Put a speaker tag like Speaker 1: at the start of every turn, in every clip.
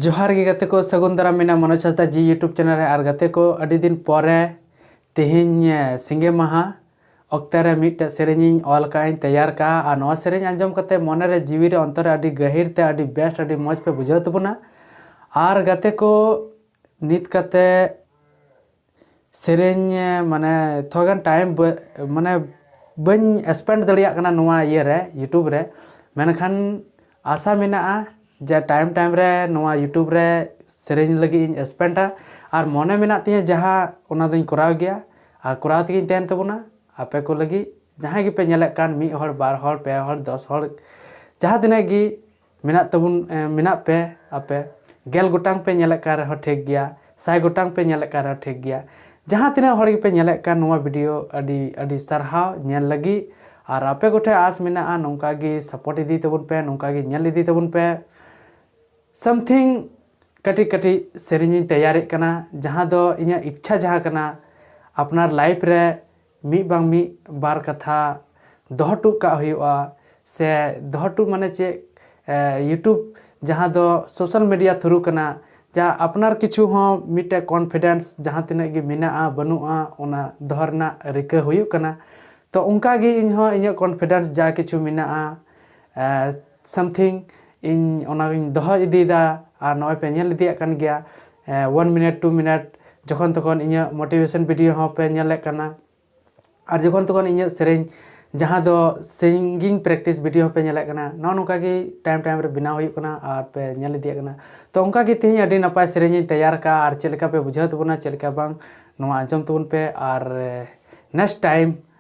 Speaker 1: ᱡᱚᱦᱟᱨ ᱜᱮ ᱜᱟᱛᱮ ᱠᱚ ᱥᱟᱹᱜᱩᱱ ᱫᱟᱨᱟᱢ ᱢᱮᱱᱟ ᱢᱚᱱᱳᱡᱽ ᱦᱟᱸᱥᱫᱟ ᱡᱤ ᱤᱭᱩᱴᱩᱵᱽ ᱪᱮᱱᱮᱞ ᱨᱮ ᱟᱨ ᱜᱟᱛᱮ ᱠᱚ ᱟᱹᱰᱤ ᱫᱤᱱ ᱯᱚᱨᱮ ᱛᱮᱦᱮᱧ ᱥᱤᱸᱜᱮ ᱢᱟᱦᱟ ᱚᱠᱛᱮ ᱨᱮ ᱢᱤᱫᱴᱮᱡ ᱥᱮᱨᱮᱧᱤᱧ ᱚᱞ ᱠᱟᱜᱼᱟᱹᱧ ᱛᱮᱭᱟᱨ ᱠᱟᱜᱼᱟ ᱟᱨ ᱱᱚᱣᱟ ᱥᱮᱨᱮᱧ ᱟᱸᱡᱚᱢ ᱠᱟᱛᱮ ᱢᱚᱱᱮ ᱨᱮ ᱡᱤᱣᱤ ᱨᱮ ᱚᱱᱛᱚᱨ ᱨᱮ ᱟᱹᱰᱤ ᱜᱟᱹᱦᱤᱨ ᱛᱮ ᱟᱹᱰᱤ ᱵᱮᱥᱴ ᱟᱹᱰᱤ ᱢᱚᱡᱽ ᱯᱮ ᱵᱩᱡᱷᱟᱹᱣ ᱛᱟᱵᱚᱱᱟ ᱟᱨ ᱜᱟᱛᱮ ᱠᱚ ᱱᱤᱛ ᱠᱟᱛᱮ ᱥᱮᱨᱮᱧ ᱢᱟᱱᱮ ᱛᱷᱚᱲᱟ ᱜᱟᱱ ᱴᱟᱭᱤᱢ ᱢᱟᱱᱮ ᱵᱟᱹᱧ ᱥᱯᱮᱱᱰ ᱫᱟᱲᱮᱭᱟᱜ ᱠᱟᱱᱟ ᱱᱚᱣᱟ ᱤᱭᱟᱹ ᱨᱮ ᱤᱭᱩᱴᱩᱵᱽ ᱨᱮ ᱢᱮᱱᱠᱷᱟᱱ ᱟᱥᱟ ᱢᱮᱱᱟᱜᱼᱟ ᱡᱮ ᱴᱟᱭᱤᱢ ᱴᱟᱭᱤᱢ ᱨᱮ ᱱᱚᱣᱟ ᱤᱭᱩᱴᱩᱵᱽ ᱨᱮ ᱥᱮᱨᱮᱧ ᱞᱟᱹᱜᱤᱫ ᱤᱧ ᱥᱯᱮᱱᱰᱼᱟ ᱟᱨ ᱢᱚᱱᱮ ᱢᱮᱱᱟᱜ ᱛᱤᱧᱟᱹ ᱡᱟᱦᱟᱸ ᱚᱱᱟ ᱫᱚᱧ ᱠᱚᱨᱟᱣ ᱜᱮᱭᱟ ᱟᱨ ᱠᱚᱨᱟᱣ ᱛᱮᱜᱮᱧ ᱛᱟᱦᱮᱱ ᱛᱟᱵᱚᱱᱟ ᱟᱯᱮ ᱠᱚ ᱞᱟᱹᱜᱤᱫ ᱡᱟᱦᱟᱸᱭ ᱜᱮᱯᱮ ᱧᱮᱞᱮᱫ ᱠᱟᱱ ᱢᱤᱫ ᱦᱚᱲ ᱵᱟᱨ ᱦᱚᱲ ᱯᱮ ᱦᱚᱲ ᱫᱚᱥ ᱦᱚᱲ ᱡᱟᱦᱟᱸ ᱛᱤᱱᱟᱹᱜ ᱜᱮ ᱢᱮᱱᱟᱜ ᱛᱟᱵᱚᱱ ᱢᱮᱱᱟᱜ ᱯᱮ ᱟᱯᱮ ᱜᱮᱞ ᱜᱚᱴᱟᱝ ᱯᱮ ᱧᱮᱞᱮᱫ ᱠᱟᱱ ᱨᱮᱦᱚᱸ ᱴᱷᱤᱠ ᱜᱮᱭᱟ ᱥᱟᱭ ᱜᱚᱴᱟᱝ ᱯᱮ ᱧᱮᱞᱮᱫ ᱠᱟᱱ ᱨᱮᱦᱚᱸ ᱴᱷᱤᱠ ᱜᱮᱭᱟ ᱡᱟᱦᱟᱸ ᱛᱤᱱᱟᱹᱜ ᱦᱚᱲ ᱜᱮᱯᱮ ᱧᱮᱞᱮᱫ ᱠᱟᱱ ᱱᱚᱣᱟ ᱵᱷᱤᱰᱤᱭᱳ ᱟᱹᱰᱤ ᱟᱹᱰᱤ ᱥᱟᱨᱦᱟᱣ ᱧᱮᱞ ᱞᱟᱹᱜᱤᱫ ᱟᱨ ᱟᱯᱮ ᱠᱚᱴᱷᱮᱱ ᱟᱥ ᱢᱮᱱᱟᱜᱼᱟ ᱱᱚᱝᱠᱟ ᱜᱮ ᱥᱟᱯᱳᱨᱴ ᱤᱫᱤ ᱛᱟᱵᱚᱱ ᱯᱮ ᱱᱚᱝᱠᱟ ᱜᱮ ᱧᱮᱞ ᱤᱫᱤ ᱛᱟᱵᱚᱱ ᱯᱮ ᱥᱟᱢᱛᱷᱤᱝ ᱠᱟᱹᱴᱤᱡ ᱠᱟᱹᱴᱤᱡ ᱥᱮᱨᱮᱧᱤᱧ ᱛᱮᱭᱟᱨᱮᱫ ᱠᱟᱱᱟ ᱡᱟᱦᱟᱸ ᱫᱚ ᱤᱧᱟᱹᱜ ᱤᱪᱪᱷᱟ ᱡᱟᱦᱟᱸ ᱠᱟᱱᱟ ᱟᱯᱱᱟᱨ ᱞᱟᱭᱤᱯᱷ ᱨᱮ ᱢᱤᱫ ᱵᱟᱝ ᱢᱤᱫ ᱵᱟᱨ ᱠᱟᱛᱷᱟ ᱫᱚᱦᱚ ᱦᱚᱴᱚ ᱠᱟᱜ ᱦᱩᱭᱩᱜᱼᱟ ᱥᱮ ᱫᱚᱦᱚ ᱦᱚᱴᱚ ᱢᱟᱱᱮ ᱪᱮᱫ ᱤᱭᱩᱴᱩᱵᱽ ᱡᱟᱦᱟᱸ ᱫᱚ ᱥᱳᱥᱟᱞ ᱢᱤᱰᱤᱭᱟ ᱛᱷᱨᱩ ᱠᱟᱱᱟ ᱡᱟᱦᱟᱸ ᱟᱯᱱᱟᱨ ᱠᱤᱪᱷᱩ ᱦᱚᱸ ᱢᱤᱫᱴᱮᱱ ᱠᱚᱱᱯᱷᱤᱰᱮᱱᱥ ᱡᱟᱦᱟᱸ ᱛᱤᱱᱟᱹᱜ ᱜᱮ ᱢᱮᱱᱟᱜᱼᱟ ᱵᱟᱹᱱᱩᱜᱼᱟ ᱚᱱᱟ ᱫᱚᱦᱚ ᱨᱮᱱᱟᱜ ᱨᱤᱠᱟᱹ ᱦᱩᱭᱩᱜ ᱠᱟᱱᱟ ᱛᱳ ᱚᱱᱠᱟᱜᱮ ᱤᱧᱦᱚᱸ ᱤᱧᱟᱹᱜ ᱠᱚᱱᱯᱷᱤᱰᱮᱱᱥ ᱡᱟ ᱠᱤᱪᱷᱩ ᱢᱮᱱᱟᱜᱼᱟ ᱥᱟᱢᱛᱷᱤᱝ ᱤᱧ ᱚᱱᱟᱜᱤᱧ ᱫᱚᱦᱚ ᱤᱫᱤᱭᱮᱫᱟ ᱟᱨ ᱱᱚᱜᱼᱚᱭ ᱯᱮ ᱧᱮᱞ ᱤᱫᱤᱭᱮᱫ ᱠᱟᱱ ᱜᱮᱭᱟ ᱚᱣᱟᱱ ᱢᱤᱱᱤᱴ ᱴᱩ ᱢᱤᱱᱤᱴ ᱡᱚᱠᱷᱚᱱ ᱛᱚᱠᱷᱚᱱ ᱤᱧᱟᱹᱜ ᱢᱳᱴᱤᱵᱷᱮᱥᱚᱱ ᱵᱷᱤᱰᱭᱳ ᱦᱚᱸ ᱯᱮ ᱧᱮᱞᱮᱫ ᱠᱟᱱᱟ ᱟᱨ ᱡᱚᱠᱷᱚᱱ ᱛᱚᱠᱷᱚᱱ ᱤᱧᱟᱹᱜ ᱥᱮᱨᱮᱧ ᱡᱟᱦᱟᱸ ᱫᱚ ᱥᱤᱝᱜᱤᱝ ᱯᱨᱮᱠᱴᱤᱥ ᱵᱷᱤᱰᱭᱳ ᱦᱚᱸᱯᱮ ᱧᱮᱞᱮᱫ ᱠᱟᱱᱟ ᱱᱚᱜᱼᱚ ᱱᱚᱝᱠᱟ ᱜᱮ ᱴᱟᱭᱤᱢ ᱴᱟᱭᱤᱢ ᱨᱮ ᱵᱮᱱᱟᱣ ᱦᱩᱭᱩᱜ ᱠᱟᱱᱟ ᱟᱨ ᱯᱮ ᱧᱮᱞ ᱤᱫᱤᱭᱮᱫ ᱠᱟᱱᱟ ᱛᱚ ᱚᱱᱠᱟ ᱜᱮ ᱛᱮᱦᱮᱧ ᱟᱹᱰᱤ ᱱᱟᱯᱟᱭ ᱥᱮᱨᱮᱧ ᱤᱧ ᱛᱮᱭᱟᱨ ᱠᱟᱜᱼᱟ ᱟᱨ ᱪᱮᱫ ᱞᱮᱠᱟ ᱯᱮ ᱵᱩᱡᱷᱟᱹᱣ ᱛᱟᱵᱚᱱᱟ ᱪᱮᱫ ᱞᱮᱠᱟ ᱵᱟᱝ ᱱᱚᱣᱟ ᱟᱸᱡᱚᱢ ᱛᱟᱵᱚᱱ ᱯᱮ ᱟᱨ ᱱᱮᱠᱥᱴ ᱴᱟᱭᱤᱢ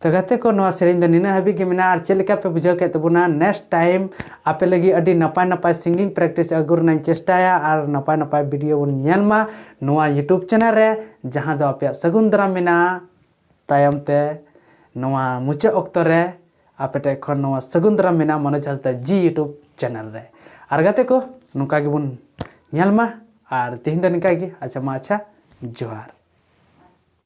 Speaker 1: ᱛᱚ ᱜᱟᱛᱮ ᱠᱚ ᱱᱚᱣᱟ ᱥᱮᱨᱮᱧ ᱫᱚ ᱱᱤᱱᱟᱹᱜ ᱦᱟᱹᱵᱤᱡ ᱜᱮ ᱢᱮᱱᱟᱜᱼᱟ ᱟᱨ ᱪᱮᱫ ᱞᱮᱠᱟ ᱯᱮ ᱵᱩᱡᱷᱟᱹᱣ ᱠᱮᱫ ᱛᱟᱵᱚᱱᱟ ᱱᱮᱠᱥᱴ ᱴᱟᱭᱤᱢ ᱟᱯᱮ ᱞᱟᱹᱜᱤᱫ ᱟᱹᱰᱤ ᱱᱟᱯᱟᱭ ᱱᱟᱯᱟᱭ ᱥᱤᱝᱜᱤᱝ ᱯᱨᱮᱠᱴᱤᱥ ᱟᱹᱜᱩ ᱨᱮᱱᱟᱜ ᱤᱧ ᱪᱮᱥᱴᱟᱭᱟ ᱟᱨ ᱱᱟᱯᱟᱭ ᱱᱟᱯᱟᱭ ᱵᱷᱤᱰᱤᱭᱳ ᱵᱚᱱ ᱧᱮᱞ ᱢᱟ ᱱᱚᱣᱟ ᱭᱩᱴᱩᱵᱽ ᱪᱮᱱᱮᱞ ᱨᱮ ᱡᱟᱦᱟᱸ ᱫᱚ ᱟᱯᱮᱭᱟᱜ ᱥᱟᱹᱜᱩᱱ ᱫᱟᱨᱟᱢ ᱢᱮᱱᱟᱜᱼᱟ ᱛᱟᱭᱚᱢ ᱛᱮ ᱱᱚᱣᱟ ᱢᱩᱪᱟᱹᱫ ᱚᱠᱛᱚ ᱨᱮ ᱟᱯᱮ ᱴᱷᱮᱱ ᱠᱷᱚᱱ ᱱᱚᱣᱟ ᱥᱟᱹᱜᱩᱱ ᱫᱟᱨᱟᱢ ᱢᱮᱱᱟᱜᱼᱟ ᱢᱚᱱᱳᱡᱽ ᱦᱟᱸᱥᱫᱟ ᱡᱤ ᱭᱩᱴᱩᱵᱽ ᱪᱮᱱᱮᱞ ᱨᱮ ᱟᱨ ᱜᱟᱛᱮ ᱠᱚ ᱱᱚᱝᱠᱟ ᱜᱮᱵᱚᱱ ᱧᱮᱞ ᱢᱟ ᱟᱨ ᱛᱮᱦᱮᱧ ᱫᱚ ᱱᱤᱝᱠᱟ ᱜᱮ ᱟᱪᱪᱷᱟ ᱢᱟ ᱟᱪᱪᱷᱟ ᱡᱚᱦᱟᱨ